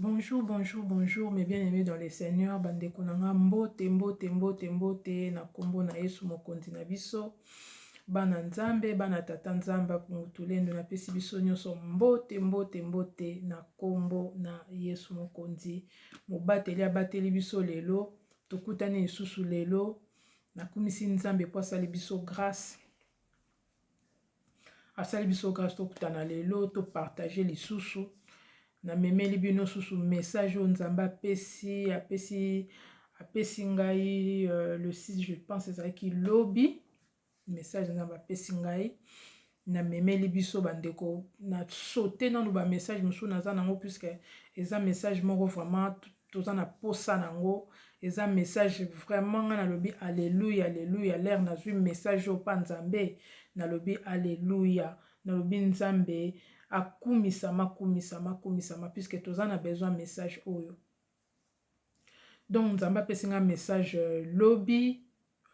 Bonjour, bonjour, bonjour, mes bien-aimés dans le Seigneur, bandeko na nga mbote, mbote, mbote, mbote, na kombo na Yesu mokonzi na biso, bana Nzambe, bana tata Nzambe, mutulendo na pesi biso nyonso mbote, mbote, mbote, na kombo na Yesu mokonzi, mobateli abateli biso lelo, tokutani lisusu lelo, nakumisi Nzambe po asali biso grâce, asali biso grâce tokutana lelo to partage lisusu namemeli bino susu message oyo nzambe apesi apesi apesi ngai euh, le 6 je pense ezalaki lobi message nzambe apesi ngai namemeli biso bandeko na saute nano bamessage mosusu naza nango puiske eza message moko vraiment toza na posa nango eza message vraiment nga nalobi alleluia alleluia lere nazwi message oyo pa nzambe nalobi alleluia nalobi nzambe akumisama akumisama akumisama puisque toza na besoin message oyo donc nzambe apesi nga message euh, lobi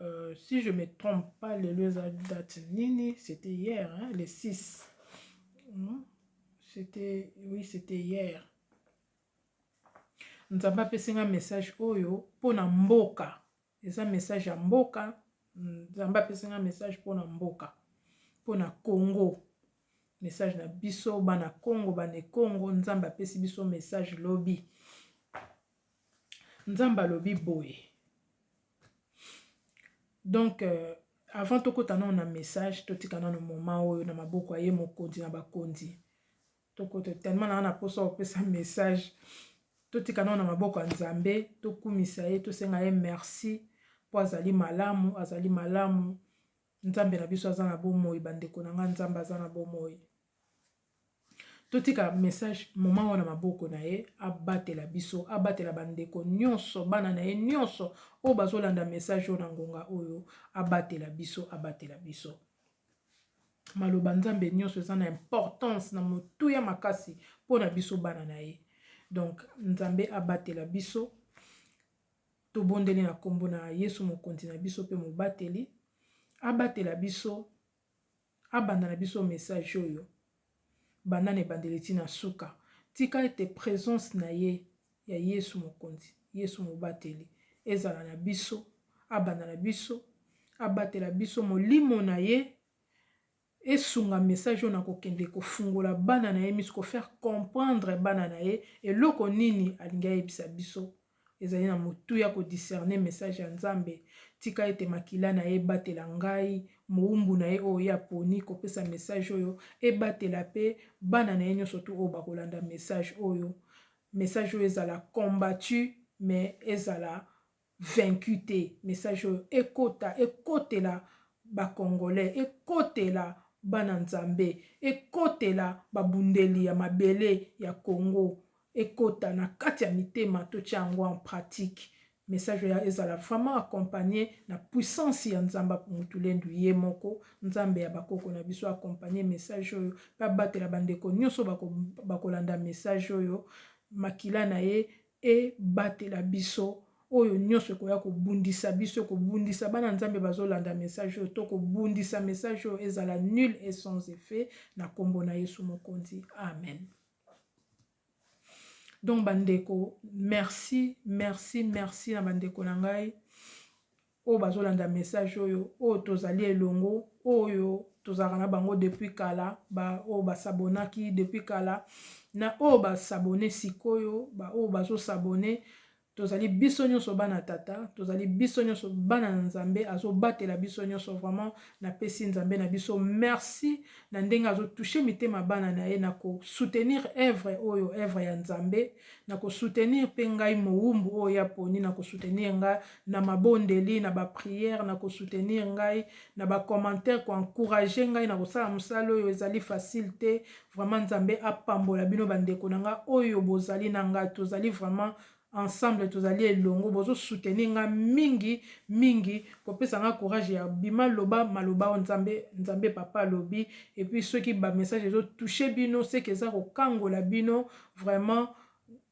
euh, si je me trompe pas lelo eza date nini c'était hier hein, le 6 hmm? c'était oui c'était hier Nzambe apesi nga message oyo mpo na mboka eza message ya mboka Nzambe apesi nga message mpo na mboka mpo na Congo message na biso bana Congo bane Congo Nzambe apesi biso message lobi Nzambe alobi boye donc euh, avant tokota nano na message totika nano moma oyo na maboko ya ye mokonzi na bakonzi tokoto tellement naza na posa opesa message totika nao na maboko ya nzambe tokumisa ye tosenga ye merci mpo azali malamu azali malamu nzambe na biso aza na bomoi bandeko na nga nzambe aza na bomoi totika message moma wana maboko na ye abatela biso abatela bandeko nyonso bana na ye nyonso oyo bazolanda message oyo na ngonga oyo abatela biso abatela biso Maloba Nzambe nionso eza na importance na motuya makasi pona biso bana na ye. Donc Nzambe abatela biso. Tobondeli na kombo na Yesu mokonzi na biso pe mobateli abatela biso abanda na biso message oyo. banda na ebandeli ti na suka. Tika ete presence na ye ya Yesu Mokonzi, Yesu Mobateli, ezala na biso, abanda na biso, abatela biso, molimo na ye esunga message oyo na kokende kofungola bana na ye misu, ko faire comprendre bana na ye eloko nini alingi ayebisa biso ezali na motuya ko discerner message ya Nzambe, tika ete makila na ye ebatela ngai, mowumbu na ye oyo ye aponi kopesa message oyo, ebatela pe bana na ye nionso tout oyo bakolanda message oyo, message oyo ezala combattu mais ezala vaincu te, message oyo ekota, ekotela ba congolais, ekotela bana Nzambe, ekotela babundeli ya mabele ya Congo, ekota na kati ya mitema totia yango en pratique message oyo ezala vraiment accompagner na puissance ya Nzambe Mutulendu ye moko Nzambe ya bakoko na biso accompagner message oyo pe abatela bandeko nyonso bakolanda message oyo makila na ye ebatela biso oyo nyonso ekoya kobundisa biso kobundisa bana nzambe bazolanda message oyo to kobundisa message oyo ezala nul et sans effet na kombo na yesu mokonzi amen donc bandeko merci merci merci na bandeko na ngai oyo bazolanda message oyo oyo tozali elongo oyo tozalaka na bango depuis kala baoyo basabonaki depuis kala na oyo basabone sikoyo baoyo bazosabone tozali biso nyonso bana tata tozali biso nyonso bana na nzambe azobatela biso nyonso vraiment napesi nzambe na biso merci na ndenge azotouche mitema bana na ye na kosoutenir evre oyo evre ya nzambe na kosoutenir mpe ngai mowumbu oyo ya poni na kosoutenir ngai na mabondeli na bapriere na kosoutenir ngai na bacommentaire koencourage ngai na kosala mosala oyo ezali facile te Vraiment nzambe apambola bino ba ndeko na nga oyo bozali na nga tozali vraiment ensemble tozali elongo bozo soutenir nga mingi mingi kopesa nga courage ya bima loba maloba o nzambe nzambe papa alobi et puis soki ba message ezo toucher bino seke eza kokangola bino vraiment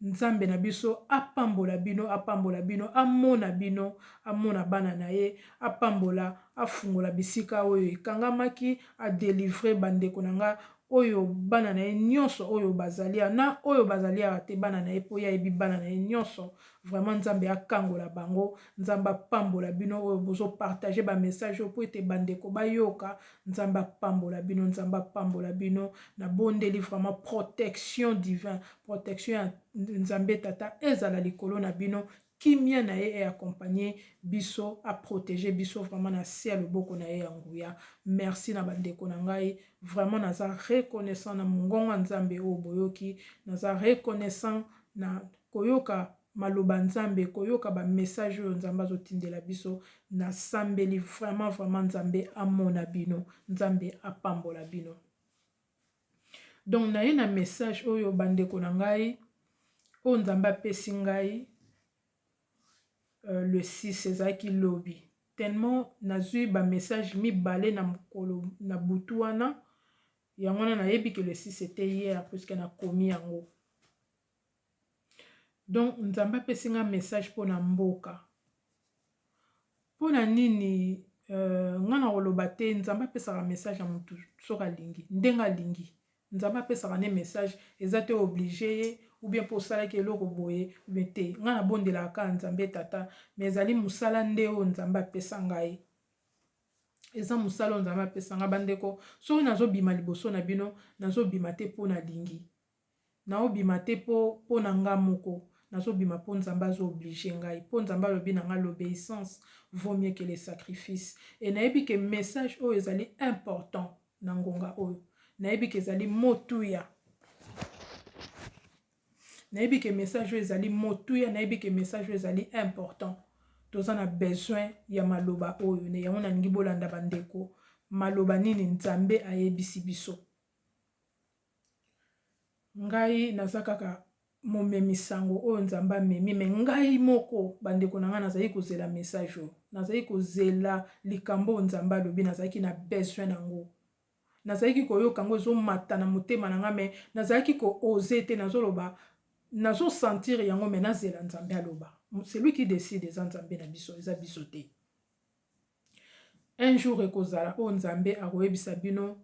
Nzambe na biso apambola bino apambola bino amona bino amona bana na ye apambola afungola bisika oyo ekangamaki a delivrer ba ndeko na nga oyo bana na ye nionso oyo bazali awa na oyo bazali awa te bana na ye po ye ayebi bana na ye nionso vraiment Nzambe akangola bango Nzambe apambola bino oyo bozo partager ba message oyo po ete ba ndeko bayoka nzambe apambola bino nzambe apambola bino nabondeli vraiment protection divin protection ya nzambe tata ezala likolo na bino kimia na ye eaccompagne biso aprotege biso vraiment na se ya loboko na ye ya nguya merci na bandeko na ngai vraiment naza reconnaissant na mongongo ya nzambe oyo boyoki naza reconnaissant na koyoka maloba nzambe koyoka ba message oyo nzambe azo tindela biso na sambeli vraiment vraiment nzambe amona bino nzambe apambola bino donc na ye na message oyo ba ndeko na ngai oyo nzambe apesi ngai euh, le 6 ezalaki lobi tellement nazwi ba message mibale na mokolo na butu wana yango wana nayebi ke le 6 ete hier puisque nakomi yango Donc nzambe apesi nga message pona mboka pona nini nga na koloba te nzambe apesaka message ya mutu soki alingi ndenge alingi nzambe apesaka nde message eza te oblige ye ou bien po osalaki eloko boye ou bien te nga na bondelaka kaka nzambe tata mais ezali musala nde oyo nzambe apesa ngai eza musala oyo nzambe apesa nga ba ndeko soki nazo bima liboso na bino nazo bima te po nalingi Nao bima te po pona nga moko nazo bima po nzambe azo oblige ngai po nzambe alobi na nga l'obeissance vaut mieux que le sacrifice et nayebi que message oyo ezali important na ngonga oyo nayebi que ezali motuya nayebi que message oyo ezali motuya nayebi que message oyo ezali important toza na besoin ya maloba oyo ne yango nalingi bolanda bandeko maloba nini nzambe ayebisi biso Ngai naza kaka momemi sango oyo Nzambe amemi mais ngai moko ba ndeko na ngai nazali kozela message oyo. Nazali kozela likambo oyo Nzambe alobi nazalaki na besoin na ngo. Nazalaki koyoka ngo ezo mata na motema na ngai mais nazalaki ko oser te nazo loba nazo sentir yango mais nazela Nzambe aloba. Celui qui decide eza Nzambe na biso eza biso te. Un jour ekozala oyo Nzambe akoyebisa bino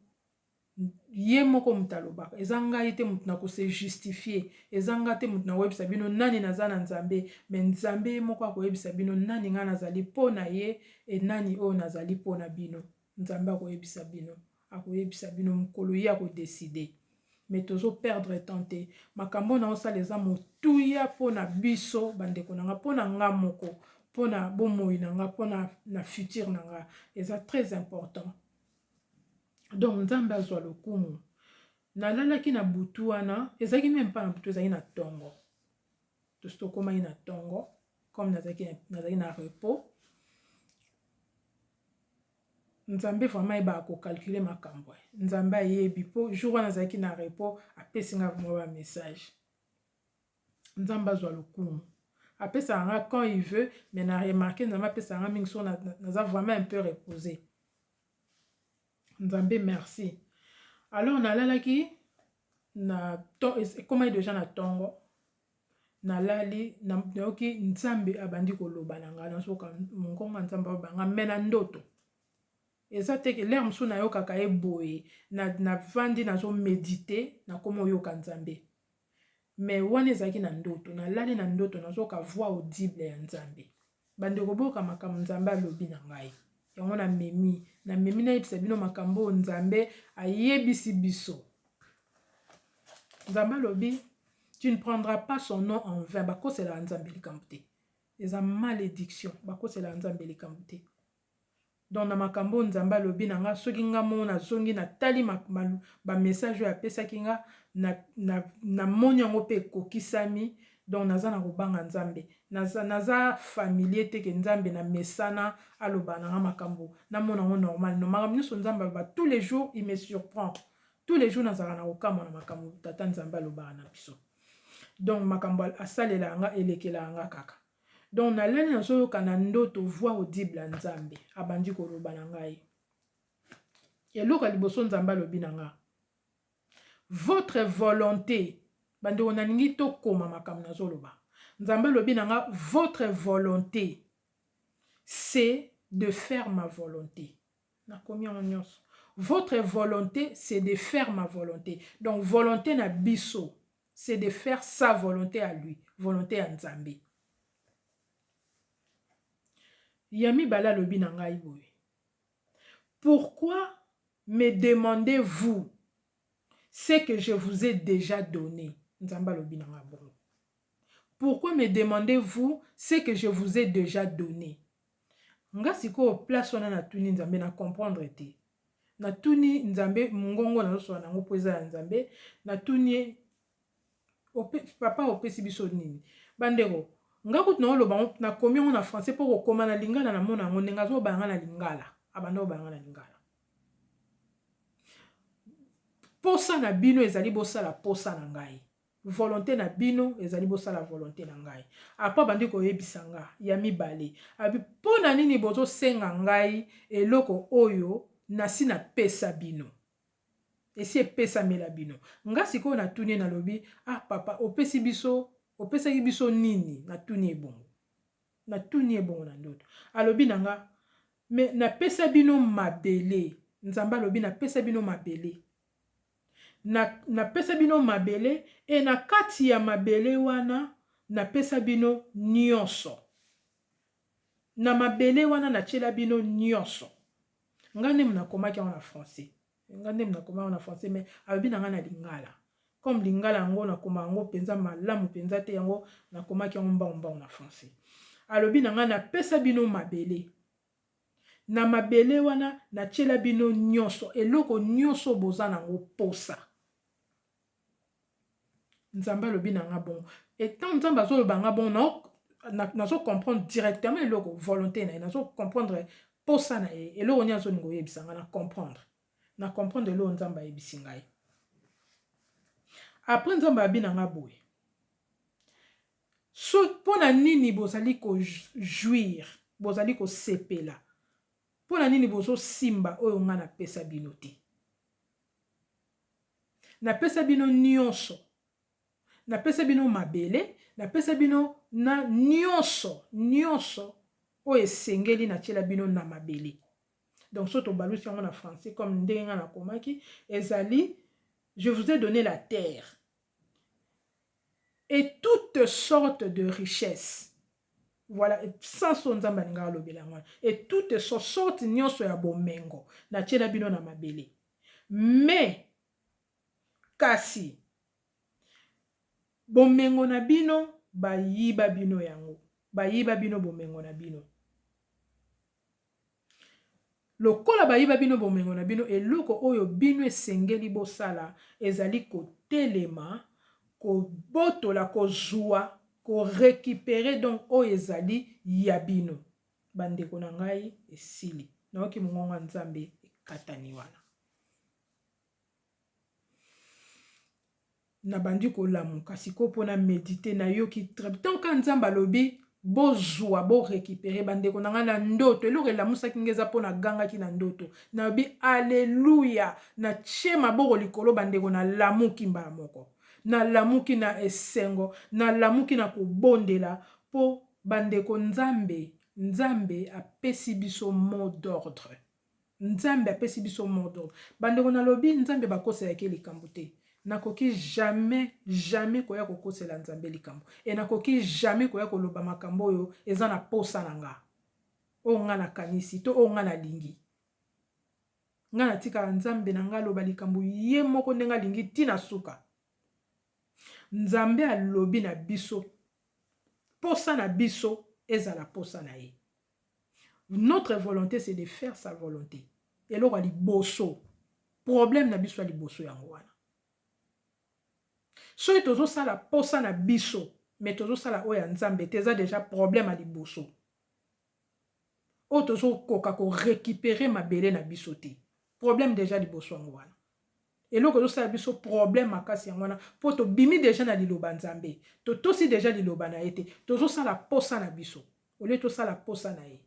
ye moko moto alobaka eza ngai te moto na kose justifie eza ngai te moto na koyebisa bino nani naza na nzambe me nzambe ye moko akoyebisa bino nani ngai nazali mpo na ye e nani oyo nazali mpo na bino nzambe akoyebisa bino akoyebisa bino mokolo ye akodeside me tozo perdre temps te makambo oyo naosala eza motuya mpo na biso bandeko na nga mpo na nga moko mpo na bomoi na nga mpo na future na nga eza très important donc nzambe azwa lokumu nalalaki na butu wana ezalaki meme mpa na butu ezalaki na ntongo tosi tokomaki na ntongo comme nazalaki nazalaki na repos nzambe vraiment ayebaka kocalcule makambo eh. nzambe ayebi mpo jour wana azalaki na repos apesi ngai vraimen bamessage Nzambe azwa lokumu. Apesaka nga quand il veut mais na remarquer Nzambe apesaka nga mingi soki naza vraiment un peu reposer. Nzambe merci. Alors nalalaki na to ekomaki deja na tongo nalali nayoki nzambe abandi koloba na ngai nazoka mongongo ya nzambe aloba ngai me na ndoto eza te ke lere mosusu nayokaka ye boye navandi na nazomedite nakoma oyoka nzambe mais wana ezalaki na ndoto na lali na ndoto nazoka voix audible ya nzambe bandeko boyoka makambo nzambe alobi na ngai yango na memi na memi nayebisa bino makambo oyo nzambe ayebisi biso nzambe alobi tu ne prendras pas son nom en vain bakoselaka nzambe likambo te eza malédiction bakoselaka nzambe likambo te Donc na makambo oyo Nzambe alobi na nga soki nga moko na zongi na tali ba message oyo apesaki nga na moni yango pe ekokisami donc naza na kobanga Nzambe naza familier te ke Nzambe na mesana aloba na nga makambo na mona yango normal non makambo nionso Nzambe aloba tous les jours il me surprend tous les jours nazalaka na kokamwa na makambo tata Nzambe alobaka na biso donc makambo asalela nga elekela nga kaka donc na lali nazo yoka na ndoto voix audible ya nzambe abandi koloba na ngai eloko ya liboso nzambe alobi na nga votre volonté bandeko nalingi tokoma makambo nazoloba nzambe alobi na nga votre volonté c'est de faire ma volonté Nakomi yango nionso. Votre volonte c'est de faire ma volonte. Donc volonte na biso c'est de faire sa volonte à lui, volonte ya Nzambe. Ya mibale alobi na ngai boye. Pourquoi me demandez-vous ce que je vous ai déjà donné? Nzambe alobi na ngai bongo. pourquoi me demander vous ce que je vous ai dejà donne nga sikoyo place wana na tuni nzambe na comprendre te na tuni nzambe mongongo nazosola nango mpo eza ya nzambe na tuni ye papa opesi biso nini bandeko nga kutu naoloba yango nakomi yango na français mpo kokoma na lingala na mona yango ndenge azobala nga na lingala abanda kobala nga na lingala posa na bino ezali bosala posa na ngai volonte na bino ezali bosala volonte na ngai apres abandi koyebisa nga ya mibale abi mpo na nini bozosenga ngai eloko oyo nasi napesa bino esi epesamela bino nga sikoyo natuni nalobi ah papa opesi biso opesaki biso nini natuni ebongo natuni ebongo na ndoto alobi na nga me napesa bino mabele nzambe alobi napesa bino mabele na, napesa bino mabele, e na kati ya mabele wana napesa bino nyonso. Na mabele wana natiela bino nyonso. Nga nde nakomaki yango na français. Nga nde nakoma yango na français, mais alobi na nga na lingala. Comme lingala yango nakoma yango penza malamu penza te, yango nakomaki yango mbao mbao na français. Alobi na nga napesa bino mabele. na mabele wana na tiela bino nionso eloko nionso oyo boza na ngo posa. Nzambe alobi na nga bongo et tango Nzambe azo loba nga bongo nao nazo comprendre directement eloko volonte na ye nazo comprendre posa na ye eloko nini azo linga oyebisa nga na comprendre na comprendre eloko Nzambe ayebisi ngai après Nzambe alobi na nga boye So, mpo na nini bozali ko jouir, bozali kosepela? Mpo na nini bozosimba oyo ngai napesa bino te? Napesa bino nyonso. Napesa bino mabele, napesa bino na nyonso, nyonso oyo esengeli natyela bino na mabele. Donc, so tobalusi yango na français, comme ndenge ngai nakomaki, ezali, je vous ai donné la terre. et toute sorte de richesse voilà sans oyo nzambe alinga alobela yango wana et toute so sorte nyonso ya bomengo natiela bino na mabele mais kasi bomengo na bino bayiba bino yango bayiba bino bomengo na bino Lokola bayiba bino bomengo na bino, eloko oyo bino esengeli bosala ezali kotelema, kobotola, kozua, ko recuperer donc oyo ezali ya bino. Bandeko na ngai, esili. Nayoki mongongo ya Nzambe ekatani wana. nabandi kolamuka sikoyo mpo na medite nayoki treptan ka nzambe alobi bozwa borekipere bandeko na ngai na ndoto eloko elamusaki ngai eza mpo nagangaki na ndoto nalobi aleluya natie maboko likolo bandeko nalamuki mbala moko nalamuki na esengo nalamuki na kobondela mpo bandeko nzambe nzambe apesi biso mot d'ordre Nzambe apesi biso mot d'ordre. Bandeko nalobi Nzambe bakosela ke likambo te. Nakoki jamais, jamais koya kokosela Nzambe likambo. Et nakoki jamais koya koloba makambo oyo eza na posa na nga. Oyo nga nakanisi to oyo nga nalingi. Nga natikaka Nzambe na nga aloba likambo ye moko ndenge alingi ti na suka. Nzambe alobi na biso, posa na biso ezala posa na ye. Notre volonte c'est de faire sa volonte. Eloko ya liboso. Problème na biso ya liboso yango wana. Soki tozosala posa na biso, mais tozosala oyo ya Nzambe te, eza deja problème ya liboso. Oyo tozokoka ko récupérer mabele na biso te. Problème deja liboso yango wana. Eloko ezo sala biso problème makasi yango wana po to bimi dejà na liloba Nzambe. To tosi dejà liloba na ye te. Tozo sala posa na biso au lieu to sala posa na ye.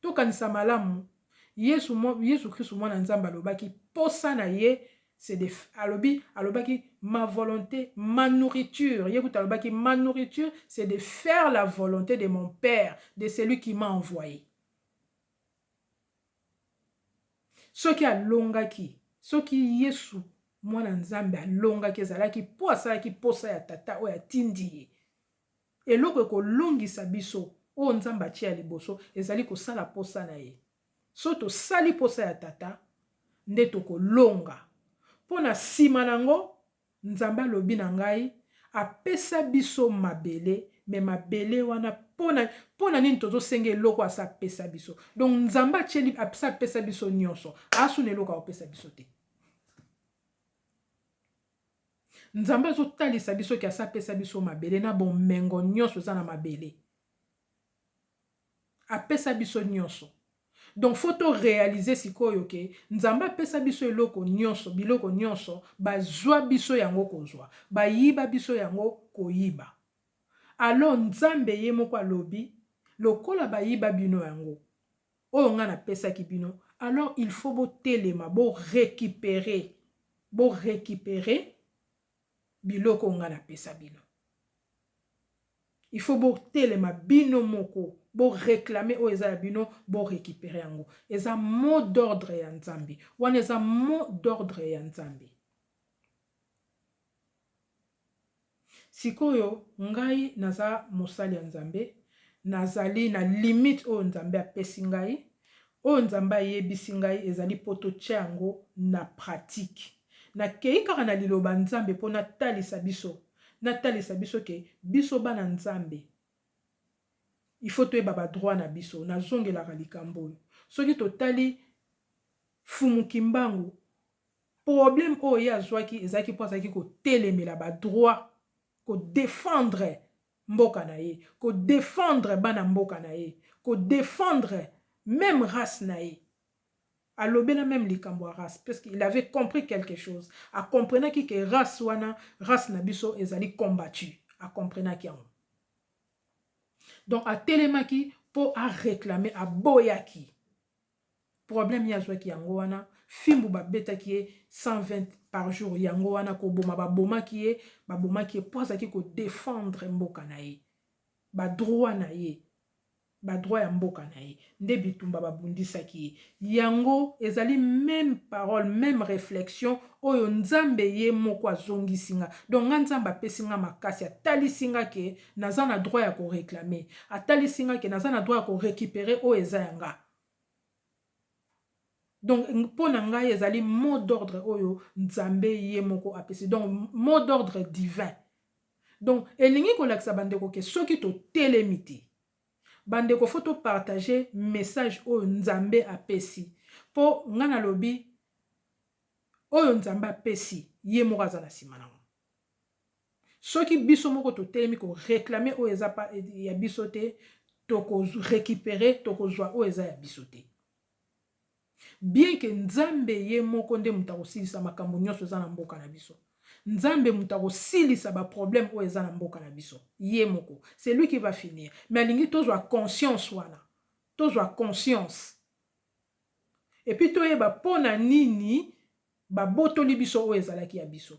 To kanisa malamu Yesu Yesu Christu mwana Nzambe alobaki posa na ye c'est de alobi alobaki ma volonté ma nourriture ye kutu alobaki ma nourriture c'est de faire la volonté de mon père de celui qui m'a envoyé. Soki alongaki, soki Yesu, Mwana ya Nzambe, alongaki, ezalaki mpo asalaki mposa ya Tata oyo atindi ye. Eloko ekolongisa biso, oyo Nzambe atye ya liboso, ezali kosala mposa na ye. Soki tosali mposa ya Tata, nde tokolonga. Mpo na nsima na yango, Nzambe alobi na ngai, apesa biso mabele mais mabele wana pona pona nini tozo senga eloko asi apesa biso donc nzambe atieli asi apesa biso nionso asu na eloko akopesa biso te nzambe azotalisa biso ke asi apesa biso mabele na bomengo nyonso eza na mabele apesa biso nionso donc faut to realiser sikoyo ke nzambe apesa biso eloko nionso biloko nionso bazua biso yango kozua bayiba biso yango koyiba alors nzambe ye moko alobi lokola bayiba bino yango oyo nga na pesaki bino alors il faut botelema bo recuperer bo recuperer biloko nga na pesa bino il faut bo telema bino moko bo reclamer oyo eza ya bino bo recuperer yango eza mot d'ordre ya nzambe wana eza mot d'ordre ya nzambe sikoyo ngai naza mosali ya nzambe nazali na limite oyo nzambe apesi ngai Oyo Nzambe ayebisi ngai ezali mpo totya yango na pratiki. Nakei kaka na Liloba Nzambe mpo natalisa biso, natalisa biso ke biso bana Nzambe, il faut toyeba ba droits na biso. Nazongelaka likambo oyo. Soki totali Mfumu Kimbangu, problème oyo ye azwaki ezalaki mpo azalaki kotelemela ba droits, ko defendre mboka na ye, ko defendre bana mboka na ye, ko defendre meme race na ye. Alobela meme likambo ya race parce qu'il avait compris quelque chose. A comprenaki que race wana, race na biso ezali combattue. A comprenaki yango. Donc atelemaki mpo a reclamer, aboyaki. Problème ye azuaki yango wana fimbu ba betaki ye 120 par jour yango wana koboma ba bomaki ye ba bomaki ye po azalaki ko defendre mboka na ye ba droit na ye ba droit ya mboka na ye nde bitumba ba bundisaki ye yango ezali meme parole meme reflexion oyo nzambe ye moko azongisi nga donc nga nzambe apesi nga makasi atalisi nga ke naza na droit ya ko reclamer atalisi nga ke naza na droit ya ko recuperer oyo eza ya nga donc mpo na ngai ezali mot d'ordre oyo nzambe ye moko apesi donc mot d'ordre divin donc elingi kolakisa bandeko ke soki totelemi te bandeko fo topartage message oyo nzambe apesi mpo ngai nalobi oyo nzambe apesi ye moko aza na nsima nango Soki biso moko totelemi ko reclamer oyo eza ya biso te, toko recuperer, toko zua oyo eza ya biso te. Bien que Nzambe ye moko nde moto akosilisa makambo nionso eza na mboka na biso. Nzambe moto akosilisa ba problèmes oyo eza na mboka na biso. Ye moko. C'est lui qui va finir. Mais alingi tozua conscience wana. Tozua conscience. Et puis toyeba pona nini babotoli biso oyo ezalaki ya biso.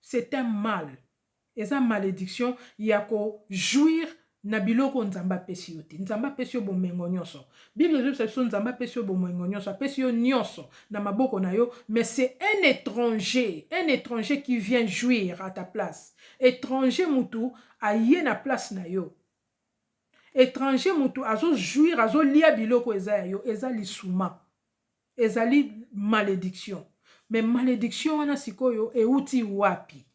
C'est un mal eza malediction ya ko jouir na biloko oyo Nzambe apesi yo te. Nzambe apesi yo bomengo nionso. Bible ezobisa biso Nzambe apesi yo bomengo nionso, apesi yo nionso na maboko na yo mais c'est un etranger, un etranger qui vient jouir à ta place. Etranger mutu aye na place na yo. Etranger mutu azo jouir, azo lia biloko eza ya yo, eza lisuma. Ezali malediction mais malediction wana sikoyo ewuti wapi?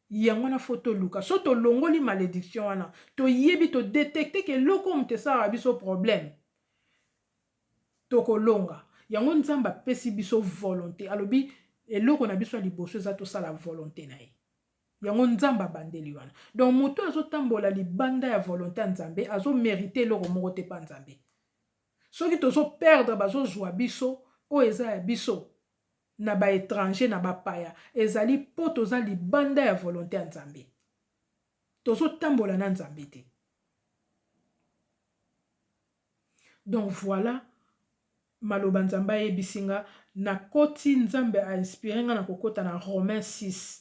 Yango wana faut toluka soki tolongoli malediction wana toyebi to detecter ke eloko oyo moto esalaka biso problème tokolonga yango Nzambe apesi biso volonte alobi eloko na biso ya liboso eza tosala volonte na ye yango Nzambe abandeli wana donc moto azotambola libanda ya volonte ya Nzambe azomerite eloko moko te mpa Nzambe soki tozo perdre bazo zua biso oyo eza ya biso na ba etranger na ba paya ezali po toza libanda ya volonte ya nzambe tozo tambola na nzambe te donc voila maloba nzambe ayebisi nga nakoti nzambe a inspire nga na kokota na romain 6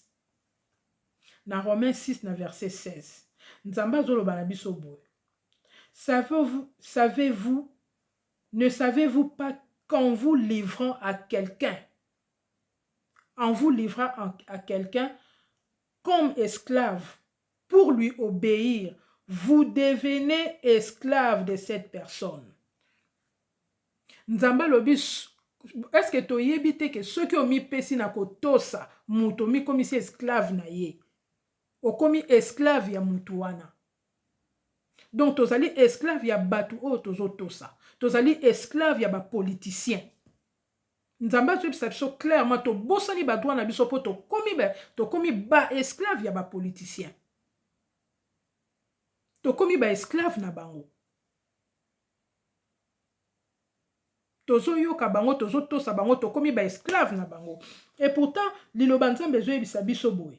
na romain 6 na verset 16 nzambe azoloba na biso boye Savez vous, savez vous, ne savez vous pas qu'en vous livrant à quelqu'un, en vous livrant à, à quelqu'un comme esclave pour lui obéir, vous devenez esclave de cette personne. Nzambe alobi est-ce que toyebi te ke soki omipesi na kotosa moto omikomisi esclave na ye okomi esclave ya moto wana Donc tozali esclave ya batu oyo tozo tosa. Tozali esclave ya ba politiciens. Nzambe azo yebisa biso clairement to bosani ba droit na biso po to komi ba to komi ba esclave ya ba politiciens. To komi ba esclave na bango. tozoyoka bango tozotosa bango tokomi ba esclave na bango et pourtant liloba nzambe ezoyebisa biso boye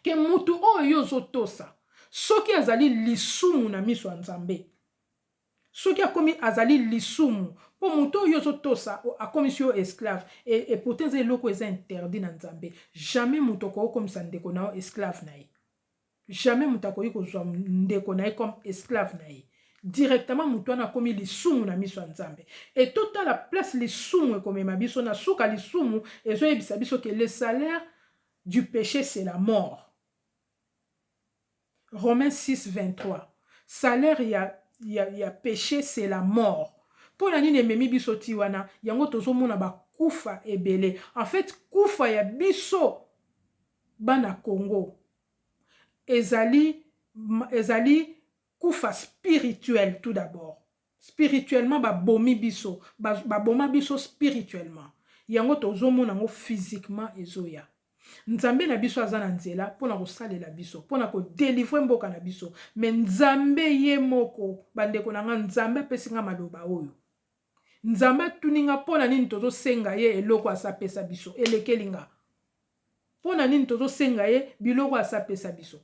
ke mutu oyo yo ozotosa soki azali lisumu na miso ya Nzambe, soki akomi azali lisumu po mutu oyo yo ozotosa akomisi yo esclave et pourtant eza eloko eza interdit na Nzambe, jamais mutu akoki okomisa ndeko na yo esclave na ye, jamais mutu akoki kozua ndeko na ye comme esclave na ye, directement mutu wana akomi lisumu na miso ya Nzambe et totala place lisumu ekomema biso, na suka lisumu ezoyebisa biso ke le salaire du peche c'est la mort Romains 6 23 salaire ya, ya, ya peche c'est la mort mpo na nini ememi biso ti wana yango tozomona bakufa ebele en fait kufa ya biso bana congo ezali ezali kufa spirituel tout d'abord Spirituellement ba bomi biso, ba boma biso spirituellement yango tozo mona ngo physiquement ezo ya. Nzambe na biso aza na nzela pona ko salela biso, pona ko delivrer mboka na biso mais Nzambe ye moko ba ndeko na nga Nzambe apesi nga maloba oyo. Nzambe atuni nga pona nini tozo senga ye eloko asa pesa biso elekeli nga. Pona nini tozo senga ye biloko asa pesa biso.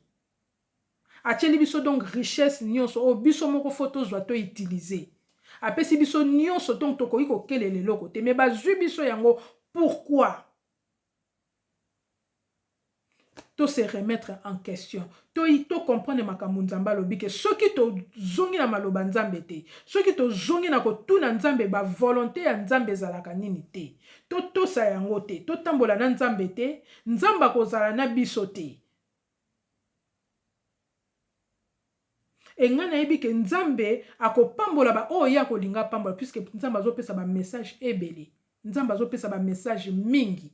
Atieli biso donc richesse nionso oyo biso moko faut tozua to utiliser. Apesi biso nionso donc tokoki kokelela eloko te mais bazui biso yango pourquoi? To se remettre en question. To to comprendre makambo Nzambe alobi que soki tozongi na maloba Nzambe te, soki tozongi na kotuna Nzambe ba volonte ya Nzambe ezalaka nini te, totosa yango te, totambola na Nzambe te, Nzambe akozala na biso te. Et nga nayebi que nzambe akopambola ba oyo ye akolinga apambola puisque nzambe azopesa ba message ebele nzambe azopesa ba message mingi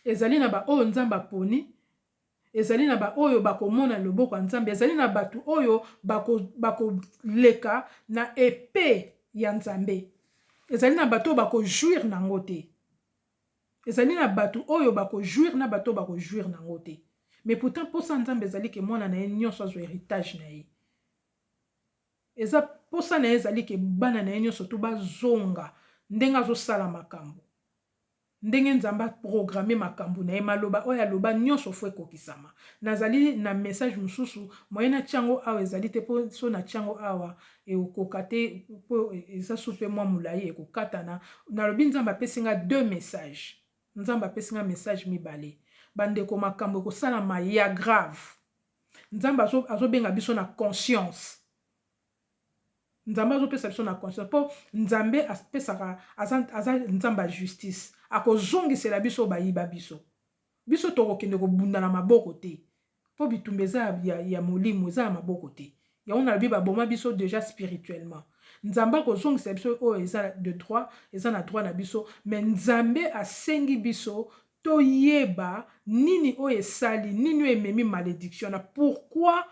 ezali na ba oyo nzambe aponi ezali na ba oyo bakomona loboko ya nzambe ezali na batu oyo bakoleka na epe ya nzambe ezali na bato oyo bakojouire na yango te Ezali na batu oyo ba ko jouir na batu oyo ba ko jouir nango te mais pourtant posa ya nzambe ezali ke mwana na ye nionso azwa heritage na ye eza posa na ye ezali ke bana na ye nionso tout ba zonga ndenge azo sala makambu ndenge nzambe a programme makambu na ye maloba oyo aloba nionso faut ekokisama nazali na message mususu moyen na tia yango awa ezali te po soki na tia yango awa Ekokoka te po eza soupe mua mulayi ekokatana. Nalobi Nzambe apesi nga deux messages. Nzambe apesi nga message mibale. Ba ndeko makambo ekosalama ya grave. Nzambe azo azo benga biso na conscience. Nzambe azo pesa biso na conscience po Nzambe apesaka aza aza Nzambe ya justice. Akozongisela biso oyo bayiba biso. Biso tokokende kobunda na maboko te. Po bitumba eza ya, ya, ya molimo, eza ya maboko te. Yango nalobi baboma biso dejà spirituellement. Nzambe akozongisa biso oyo eza de droit, eza na droit na biso, mais Nzambe asengi biso toyeba nini oyo esali, nini oyo ememi malediction wana, pourquoi,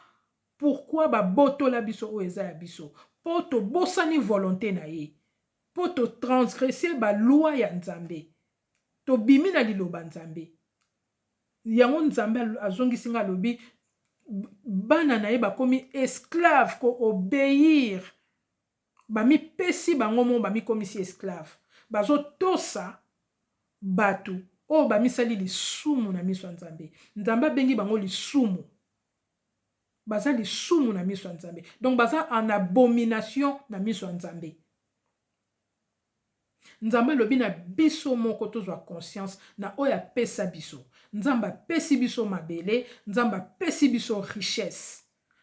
pourquoi babotola biso oyo eza ya biso? Po tobosani volonte na ye, po to transgresser ba lois ya Nzambe, tobimi na liloba Nzambe. Yango Nzambe azongisi ngai alobi bana na ye bakomi esclave ko obeir ba mi pesi bango moko ba mi komisi esclave bazo tosa batu oyo ba misali lisumu na miso ya Nzambe Nzambe abengi bango lisumu baza lisumu na miso ya Nzambe donc baza en abomination na miso ya Nzambe. Nzambe alobi na biso moko tozwa conscience na oyo apesa biso. Nzambe apesi biso mabele, Nzambe apesi biso richesse,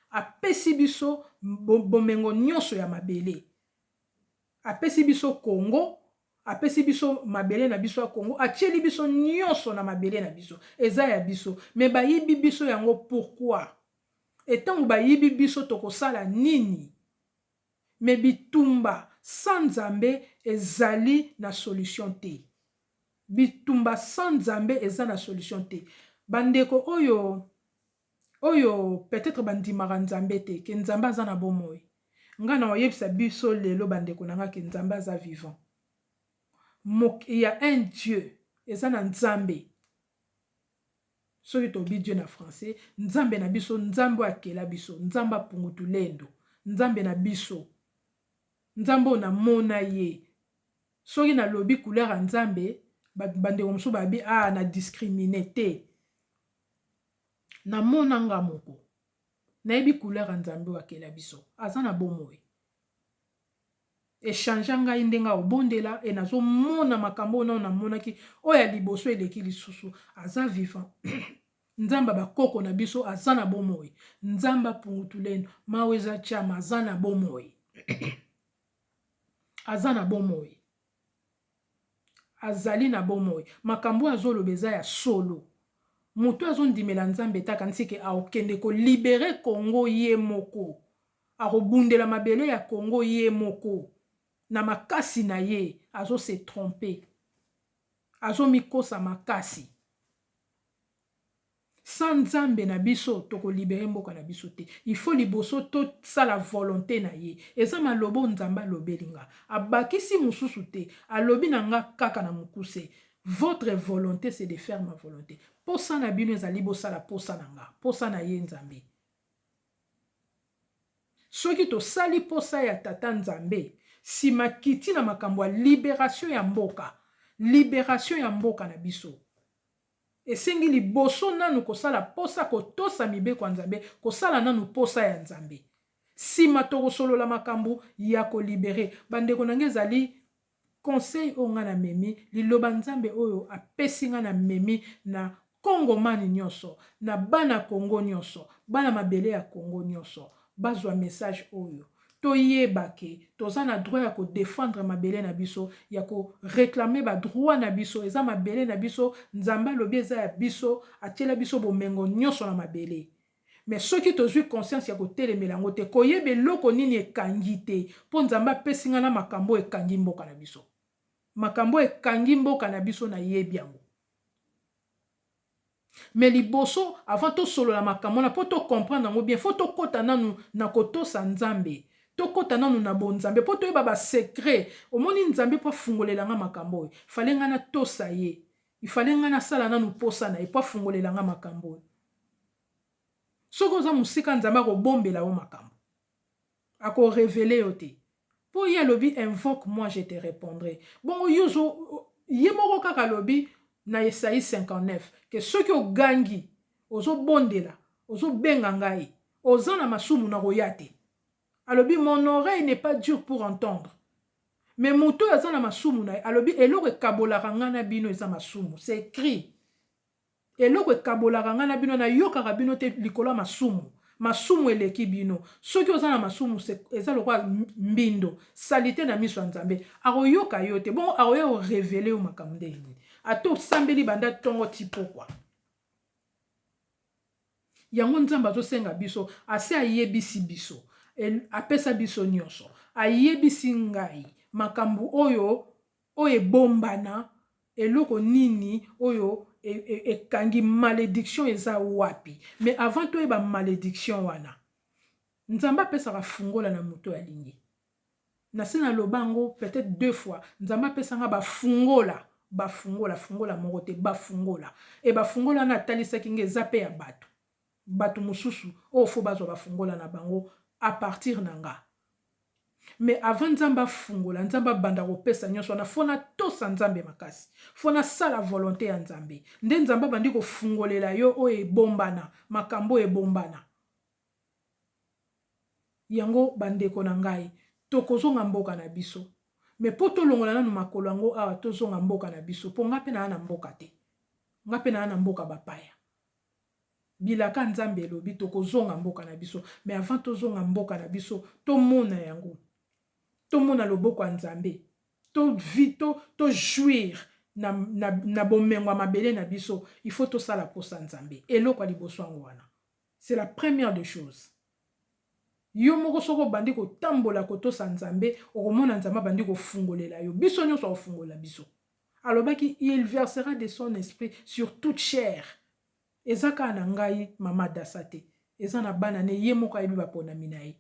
apesi biso bomengo nionso ya mabele, apesi biso Congo, apesi biso mabele na biso ya Congo, atieli biso nionso na mabele na biso, eza ya biso mais bayibi biso yango pourquoi? Et tango bayibi biso tokosala nini? Mais bitumba sans Nzambe ezali na solution te. Bitumba sans Nzambe eza na solution te. Ba ndeko oyo oyo peut etre ba ndimaka Nzambe te que Nzambe aza na bomoi. Nga nako yebisa biso lelo ba ndeko na nga que Nzambe aza vivant. Mok il ya un Dieu eza na Nzambe. soki tolobi Dieu na français nzambe na biso nzambe oyo akela biso nzambe apungutulendo nzambe na biso nzambe oyo namona ye soki nalobi couleur ya nzambe bandeko mosusu babi a ah, na discrimine te namona nga moko nayebi couleur ya nzambe oyo akela biso aza na bomoi Echangea ngai ndenge ya kobondela et nazo mona makambo oyo nanu na monaki oyo ya liboso eleki lisusu aza vivant nzambe ya ba koko na biso aza na bomoi nzambe ya pungutulendo mawa eza chama aza na bomoi aza na bomoi Azali na bomoi. Makambo oyo azo loba eza ya solo. Moto oyo azo ndimela Nzambe te akanisi ke ako kende ko liberer Congo ye moko. Ako bundela mabele ya Congo ye moko na makasi na ye. Azo se tromper. Azo mikosa makasi. Sans nzambe na biso toko libere mboka na biso te il faut liboso to sala volonte na ye eza maloba oyo nzambe alobeli nga abakisi mususu te alobi na nga kaka na mukuse votre volonte c'est de faire ma volonte posa na bino ezali bosala posa na nga posa na ye nzambe soki tosali posa ya tata nzambe sima kiti na makambo ya liberation ya mboka liberation ya mboka na biso Esengi liboso nanu kosala posa kotosa mibeko ya Nzambe, kosala nanu posa ya Nzambe. Sima tokosolola makambu ya ko libere bandeko nanga ezali conseil oyo nga na memi, liloba Nzambe oyo apesi nga na memi na Congo man nionso, na bana Congo nionso, bana mabele ya Congo nionso bazwa message oyo. toyeba que toza na droit ya ko defendre mabele na biso, ya ko reclamer ba droits na biso, eza mabele na biso, Nzambe alobi eza ya biso, atiela biso bomengo nionso na mabele. Mais soki tozui conscience ya kotelemela yango te, koyeba eloko nini ekangi te, po Nzambe apesi nga na makambo oyo ekangi mboka na biso. Makambo oyo ekangi mboka na biso nayebi yango. Mais liboso avant to solola makambo wana po to comprendre yango bien faut to kota nanu na ko tosa Nzambe. To kota nanu na bo Nzambe po to yeba ba secret. Omoni Nzambe po afungolela nga makambo oyo fallait nga na tosa ye. Il fallait nga na sala nanu posa na ye po afungolela nga makambo oyo. Soki oza mosika Nzambe ako bombela yo makambo. Ako reveler yo te. Po ye alobi invoque moi je te repondrai. Bongo yo ozo ye moko kaka alobi na Esaie 59 que soki ogangi, ozo bondela, ozo benga ngai, oza na masumu nako ya te. Alobi mon oreille n'est pas dure pour entendre. Mais moto oyo aza na masumu naye alobi eloko ekabolaka ngai na bino eza masumu. C'est ecrit. Eloko ekabolaka ngai na bino, nayokaka bino te likolo ya masumu. Masumu eleki bino. Soki oza na masumu, c'est, eza lokola mbindo, salite na miso ya Nzambe. Akoyoka yo te. Bongo akoya ko reveler yo makambo ndenge nini? Ata osambeli banda tongo ti pokwa. Yango Nzambe azosenga biso, asi ayebisi biso, apesa biso nionso. Ayebisi ngai makambo oyo Oyo ebombana eloko nini oyo ekangi malediction eza wapi mais avant toyeba malediction wana nzambe apesaka fungola na moto oyo alingi nase na loba yango peut etre deux fois nzambe apesa nga ba fungola ba fungola fungola moko te ba fungola et ba fungola wana atalisaki nga eza pe ya batu batu mususu oyo faut bazwa ba fungola na bango a partir na nga mais avant nzambe afungola nzambe abanda kopesa nionso wana faut na tosa nzambe makasi faut na sala volonte ya nzambe nde nzambe abandi kofungolela yo oyo ebombana makambo oyo ebombana yango ba ndeko na ngai tokozonga mboka na biso mais po tolongola nanu makolo yango awa tozonga mboka na biso po nga pe naa na mboka te nga pe naa na mboka bapaya Bilaka nzambe elobi tokozonga mboka na biso mais avant tozonga mboka na biso tomona yango tomona loboko ya nzambe to vi to to jouir na, na, na bomengo ya mabele na biso il faut tosala mposa nzambe eloko ya liboso yango wana c'est la première de choses yo moko soki obandi kotambola kotosa nzambe okomona nzambe abandi kofungolela yo biso nyonso akofungolela biso Alobaki il versera de son esprit sur toute chair eza kaka na ngai mama adasa te eza na bana ne ye moko ayebi baponami na ye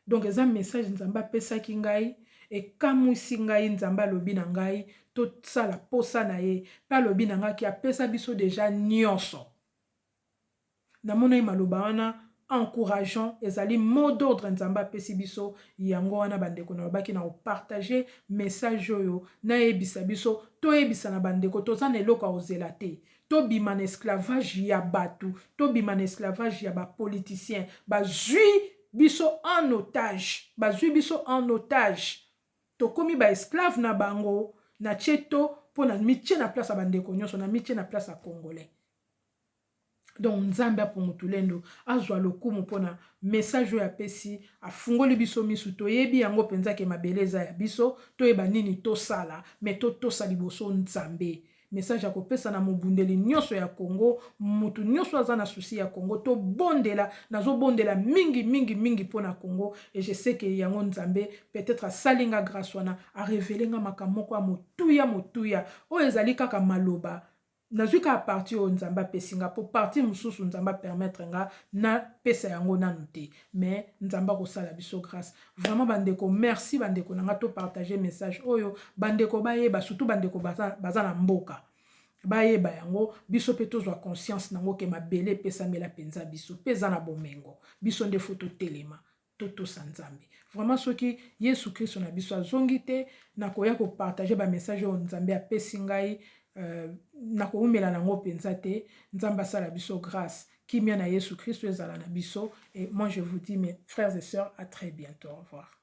donc eza message nzambe apesaki ngai ekamwisi ngai nzambe alobi na ngai tosala posa na ye mpe alobi na ngai ki apesa biso deja nyonso Namonaki maloba wana encourageant, ezali mot d'ordre Nzambe apesi biso, yango wana bandeko nalobaki nako partager message oyo nayebisa biso toyebisa na bandeko toza na eloko ya kozela te, tobima na esclavage ya batu, tobima na esclavage ya ba politiciens, bazui biso en otage, bazui biso en otage, tokomi ba esclaves na bango, natie to po namitie na place ya bandeko nionso, namitie na place ya congolais. donc nzambe apungu tulendo azwa lokumu mpona message oyo apesi afungoli biso misu toyebi yango mpenza ke mabele eza ya biso toyeba nini tosala me totosa liboso nzambe message ya kopesa na mobundeli nyonso ya congo motu nyonso aza na susi ya congo tobondela nazobondela mingi mingi mingi mpo na congo e je sais ke yango nzambe peut-être asali nga grace wana arevele nga makambo moko ya motuya motuya oyo ezali kaka maloba Nazui kaka partie oyo Nzambe apesi nga po partie mususu Nzambe a permettre nga na pesa yango nanu te mais Nzambe ako sala biso grace vraiment ba ndeko merci ba ndeko na nga to partager message oyo ba ndeko ba yeba surtout ba ndeko baza baza na mboka ba yeba yango biso pe to zua conscience nango ke mabele epesamela penza biso pe eza na bomengo biso nde faut to telema totosa nzambe vraiment soki yesu kristo na biso azongi te nakoya kopartage bamessage oyo nzambe apesi ngai euh, nakoumela nango mpenza te nzambe asala biso grâce kimia na yesu kristo ezala na biso et moi je vous dis mes frères et sœurs à très bientôt au revoir